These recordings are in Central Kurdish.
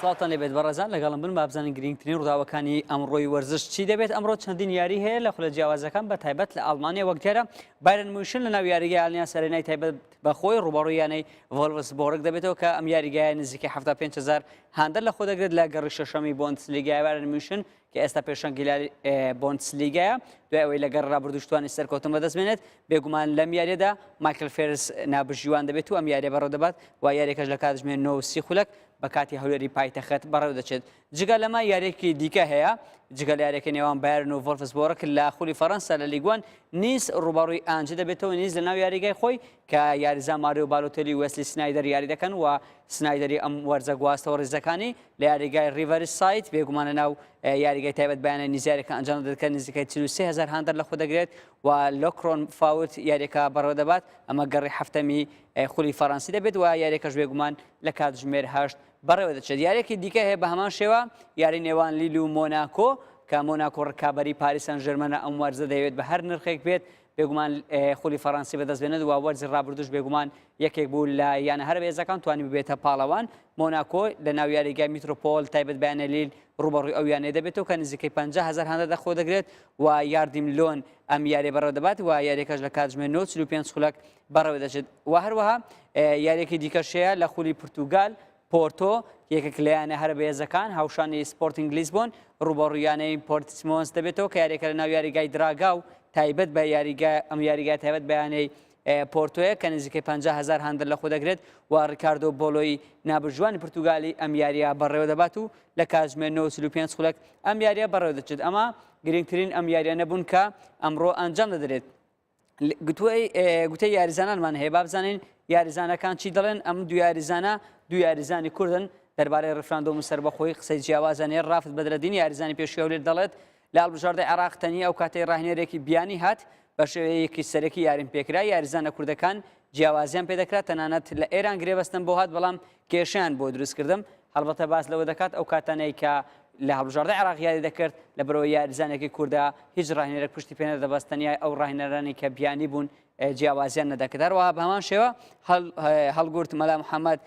سڵاوتان لێبێت بەڕێزان لەگەڵم بن با بزانین گرنگترین ڕووداوەکانی ئەمڕۆی وەرزش چی دەبێت ئەمڕۆ چەندین یاری هەیە لە خولە جیاوازەکان بە تایبەت لە ئاڵمانیا وەک دیارە بایرن موشن لە ناو یاریگە ئالیان سەرێنای تایبەت بە خۆی ڕوبەڕوویانەی ڤۆلڤس بۆڕک دەبێتەوە کە ئەم یاریگایە نزیکە 5هزار هاندەر لە خۆ دەگرێت لە گەڕی شەشەمی بۆندسلیگای بایرن موشن کە ئێستا پێشەنگیلاری بۆنسلیگایە دوای ئەوەی لەگەر ڕابردوشتوانی سەرکەوتن بەدەست بێنێت بێگومان لەم یاریەدا مایکل فێرس نابژیوان دەبێت و ئەم یاریە بەڕێ دەبات و یاریەکەش لە کاتژمێ نۆ سی خولەک بە کاتی هەولێری پایتەخت بەڕێو دەچێت جگە لەمە یاریەکی دیکە هەیە جگە لە یاریەکە نێوان بارن و ڤۆلفس بۆڕک لە خولی فەڕەنسا لە لیگوان نیز ڕوبەڕووی ئانجی دەبێتەوە نیز لە ناو یاریگای خۆی کە یاریزان ماریۆ بالۆتێلی و وێسلی سنایدەر یاری دەکەن و سنایدەری ئەم وەرزە گواستەوە ڕیزەکانی لە یاریگای ڕیڤەری سایت بێگومان لە ناو یاریگای تایبەت بەیانە نیزیارەکە ئەنجام دەکە نزیکای 33 هزار هاندەر لە خۆ دەگرێت و لۆکرۆن فاوت یاریەکە بەڕێوە دەبات ئەمە گەڕی هەفتەمی خولی فەڕەنسی دەبێت و یاریەکەش بێگومان لە کاتژمێر هەشت بەڕێوە دەچێت یاریەکی دیکە هەیە بە هەمان شێوە یاری نێوان لیل و مۆناکۆ کە مۆناکۆ ڕکابی پاریسان ژێرمەە ئەم وەرزە دەیەوێت بە هەر نرخێک بێت بێگومان خولی فەڕەنسی بەدەست بێنێت و وەرزی ڕابردوش بێگومان یەکێک بوو لە یانە هەرە بەهێزەکان توانی ببێتە پاڵەوان مۆناکۆ لە ناو یاریگای میترۆپۆل تایبەت بەیانەلیل ڕوبەڕووی ئەو یانەیە دەبێتەوە کە نزیکەی 50 هزار هەندە دەخۆ دەگرێت و یاردیم لۆن ئەم یارێ بەڕێوە دەبات و یاریەکەش لە کاتژمێر 95 خولک بەڕێوە دەچێت و هەروەها یاریەکی دیکەشەیە لە خولی پرتوگال پۆرتۆ، یەکێک لە یانە هەرە بەهێزەکان، هاوشانی سپۆرتینگ لیسبۆن، رووبەڕووی یانەی پۆرتسمۆنس دەبێتەوە کە یاریەکە لە ناو یاریگای دراگا و تایبەت بە یاریگا ئەم یاریگای تایبەت بە یانەی پۆرتۆیە کە نزیکەی 50 هەزار هاندەر لە خۆ دەگرێت و ڕیکاردۆ بۆلۆی نابژوانی پرتوگالی ئەم یاریە بەڕێوە دەبات و لە کاتژمێر 95 خولەک ئەم یاریە بەڕێوە دەچێت ئەمە گرنگترین ئەم یاریانە بوون کە ئەمڕۆ ئەنجام دەدرێت گوتەی یاریزانانمان هەیە با بزانین یاریزانەکان چی دەڵێن ئەم دو یاریزانە دو یاریزانی کوردن دەربارەی ڕفراندۆم و سربەخۆی قسەی جیاوازانێ ڕافت بەدرەدین یاریزانی پێشکەولێت دەڵێت لە هەڵبژاردەی عراق تەنی ئەو کاتەی ڕاهێنەرێکی بیانی هات بە شێوەیەکی سەرەکی یاریم پێکرا یاریزانە کوردەکان جیاوازیان پێدەکرا تەنانەت لە ئێران گرێبەستن بۆ هات بەڵام کێشیان بۆ دروستکردم هەڵبەتە باس لەوە دەکات ئەو کاتانەی کە لە هەڵبژاردەی عێراق یاری دەکرد لە بەرەوەی یاریزانێکی کوردە هیچ راهێنەرێک پشتی پێ نەدەبەست تەنیا ئەو راهێنەرانی کە بیانی بوون جیاوازیان نەدەکرد هەروەها بە هەمان شێوە هەڵگورت مەلا محەممەد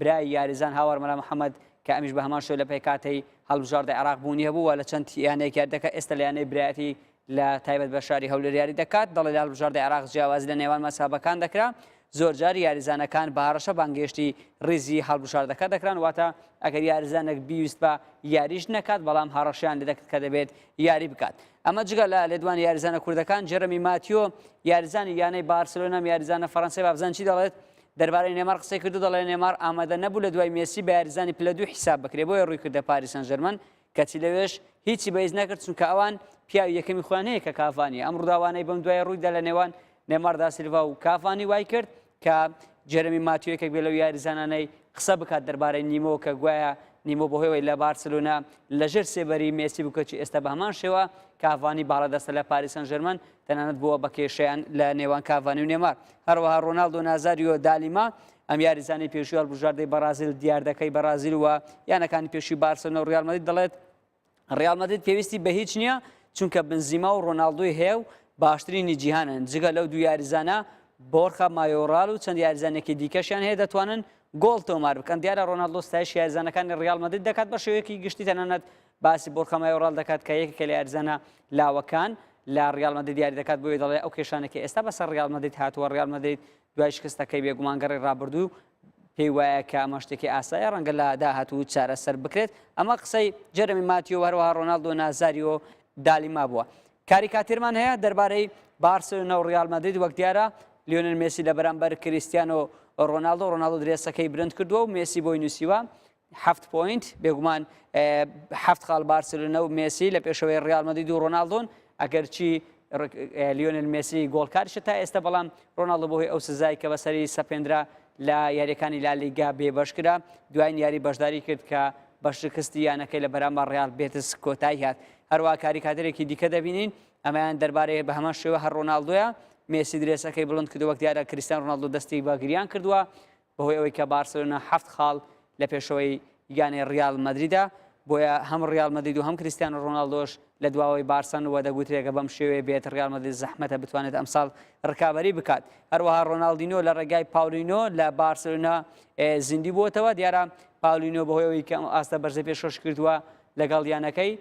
برای یاریزان هاوار مەلا محەممەد کە ئەمیش بە هەمان شوێ لە پێکاتەی هەڵبژاردە عراق بوونی هەبوو لە چەند یانەیەک یاردەکە ئێستا لە یانەی برایەتی لە تایبەت بە شاری هەولێر یاری دەکات، دەڵێت لە هەڵبژاردەی عێراق جیاوازی لە نێوان مەزهەبەکان دەکرا، زۆرجار یاریزانەکان بە هەڕەشە بانگهێشتی ریزی هەڵبژاردەکە دەکران، واتە ئەگەر یاریزانێک بیویستبا یاریش نەکات، بەڵام هەڕەشەیان لێدەکرد کە دەبێت یاری بکات. ئەمە جگە لە لێدوانی یاریزانە کوردەکان، جێرەمی ماتیۆ یاریزانی یانەی بارسێلۆنا و یاریزانە فەرەنسای بابزانچی دەڵێت، دەربارەی نێمار قسەی کردو دەڵێت نێمار ئامادە نەبوو لە دوای مێسی بە یاریزانی پلە دوو حیساب بکرێت، بۆیە روویکردە پاریس سانجێرمان کەچی لەوێش هیچی بەهیچ نەکرد، چونکە ئەوان پیاوی یەکەمی خۆیان هەیە کە کاڤانیە، ئەم ڕووداوانەی بەم دوایە ڕوویدا لە نێوان نێمار داسیلڤا و کاڤانی وایکرد کە جێرەمی ماتیۆ یەکێک بێت لەو یاریزانانەی قسە بکات دەربارەی نیمۆ کە گوایە نیمۆ بەهۆیەوەی لە بارسلۆنا لەژێر سێبەری مێسی بوو کەچی ئێستا بە هەمان شێوە کاڤانی باڵادەستە لە پاریس سان ژێرمان تەنانەت بووە بە کێشەیان لە نێوان کاڤانی و نێمار هەروەها ڕۆناڵدۆ نازاریۆ دالیما ئەم یاریزانەی پێشووی هەڵبژاردەی بەڕازیل دیاردەکەی بەڕازیل و یانەکانی پێشووی بارسێلۆنا و ڕیال مەدرید دەڵێت ڕیال مەدرید پێویستی بە هیچ نییە چونکە بنزیما و ڕۆناڵدۆی هەیە و باشترینی جیهانن جگە لەو دوو یاریزانە بۆرخە مایۆڕال و چەند یاریزانێکی دیکەشیان هەیە دەتوانن گۆڵ تۆمار بکەن دیارە ڕۆناڵدۆ ستایش یاریزانەکانی ڕیال مەدرید دەکات بە شێوەیەکی گشتی تەنانەت باسی بۆرخە مایۆڕال دەکات کە یەکێکە لە یاریزانە لاوەکان لە ڕیال مەدرید یاری دەکات بۆیە دەڵێ ئەو کێشانێکی ئێستا بەسەر ڕیال مەدرید هاتووە ڕیال مەدرید دوای شکستەکەی بێگومان گەڕی ڕابردوو پێی وایە کە ئەمە شتێکی ئاسایە ڕەنگە لە داهاتوو چارەسەر بکرێت ئەمە قسەی جەرەمی ماتیۆ هەروەها ڕۆناالدۆ نازاریۆ دالیما بووە کاریکاتێرمان هەیە دەربارەی بارسلۆنە و ڕیال مەدرید وەک دیارە لیۆنل مێسی لە بەرامبەر کریسیانۆ ڕۆناالدۆ ڕۆناالدۆ درێسەکەی برند کردووە و مێسی بۆی نووسیوە حەفت پۆینت، بێگومان حەفت خاڵ بارسلونە و مێسی لە پێشەوەی ڕیال مەدید و ڕۆناڵدۆن ئەگەرچی لیۆنل مێسی گۆڵکارشە تا ئێستا بەڵام ڕۆناڵدۆ بۆهی ئەو سزای کە بەسەری سەپێنرا لە یاریەکانی لالیگا بێبەش کرا دوایین یاری بەشداری کرد کە بە شکستی یانەکەی لە بەرامبەر ڕیال بێتس کۆتایی هات هەروە کاریکاتەرێکی دیکە دەبینین ئەمەیان دەربارەیە بە هەمان شێوە هەر ڕۆناالدوە مێسی درێسەکەی بڵند کردو وەک دیارە کریستان ڕۆناالدو دەستی بە گریان کردووە بەهۆی ئەوەی کە بارسێلۆنا هەفت خاڵ لە پێشەوەی یانەی ڕیاڵ مەدریدە، بۆیە هەم ڕیاڵ مەدرید و هەم کریستیانۆ ڕۆناڵدۆش لە دواوەی بارسان و دەگوترێ گە بەم شێوەیە بێت ڕیاڵ مەدرید زەحمەتە بتوانێت ئەمساڵ ڕکابەری بکات. هەروەها ڕۆناڵدینۆ لە ڕێگای پاولینۆ لە بارسێلۆنا زیندوو بووەتەوە، دیارە پاولینۆ بەهۆی ئەوەی کە ئەم ئاستە بەرزەی پێشکەش کردووە لەگەڵ یانەکەی،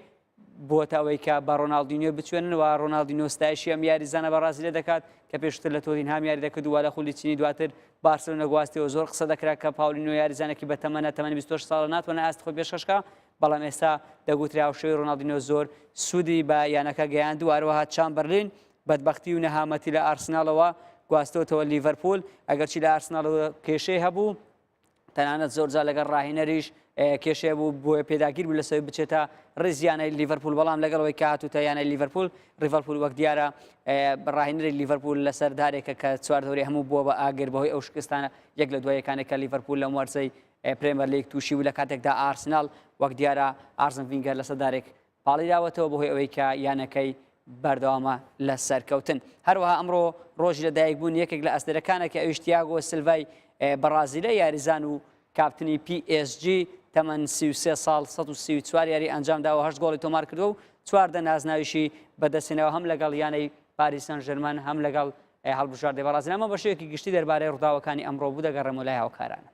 بۆتە ئەوەی کە بە ڕۆناڵدینیۆ بچوێنن و ڕۆناڵدینیۆ ستایشی ئەم یاریزانە بەڕازیلیە دەکات کە پێشووتر لە تۆتینهام یاری دەکرد و وا لە خولی چینی دواتر بارسێلۆنە گواستیەوە زۆر قسە دەکرا کە پاولینیۆ یاریزانێکی بە تەمەنە تەمەنی 26 ساڵە ناتوانێت ئاستی خۆی پێشکەش بکات بەڵام ئێستا دەگوترێ هاوشێوەی ڕۆناڵدینیۆ زۆر سوودی بە یانەکە گەیاند و هەروەها چامبەرلین بەدبەختی و نەهامەتی لە ئارسناڵەوە گواستۆتەوە لیڤەرپوول ئەگەرچی لە ئارسناڵەوە کێشەی هەبوو تەنانەت زۆرجار لەگەڵ ڕاهێنەریش کێشێ بوو بۆیە پێداگیر بوو لەسەوی بچێتە ڕێزیانەی لیڤەرپول بەڵام لەگەڵەوەی کاتوتە یانەی لیڤەرپول ڕیڤەرپول وەک دیارە ڕاهێنەری لیڤەرپول لەسەر دارێکە کە چوار دەوری هەموو بووە بە ئاگر بەهۆی ئەو شکستانە یەک لە دوایەکانێکە لیڤەرپول لەم وەرزەی پرێمەر لیگ تووشی و لە کاتێکدا ئارسنال وەک دیارە ئارزم ڤینگەر لەسەر دارێک پاڵیراوەتەوە بەهۆی ئەوەی کە یانەکەی بەردەوامە لە سەرکەوتن. هەروەها ئەمڕۆ رۆژی لەدایکبوونی یەکێک لە ئەستێرەکانەکە ئەویش تیاگۆ سلڤای بەڕازیلە، یاریزان و کاپتنی پی ئێس جی تەمەن سی و سێ ساڵ سەد و سی و چوار یاری ئەنجامداوە هەشت گۆڵی تۆمارکردووە و چواردە نازناویشی بەدەستهێناوە هەم لەگەڵ یانەی پاریس سان ژێرمان هەم لەگەڵ هەڵبژاردەی بەڕازیل. ئەمە بەشێوەیەکی گشتی دەربارەی رووداوەکانی ئەمڕۆ بوو دەگەڕێمەوە لای هاوکارانم.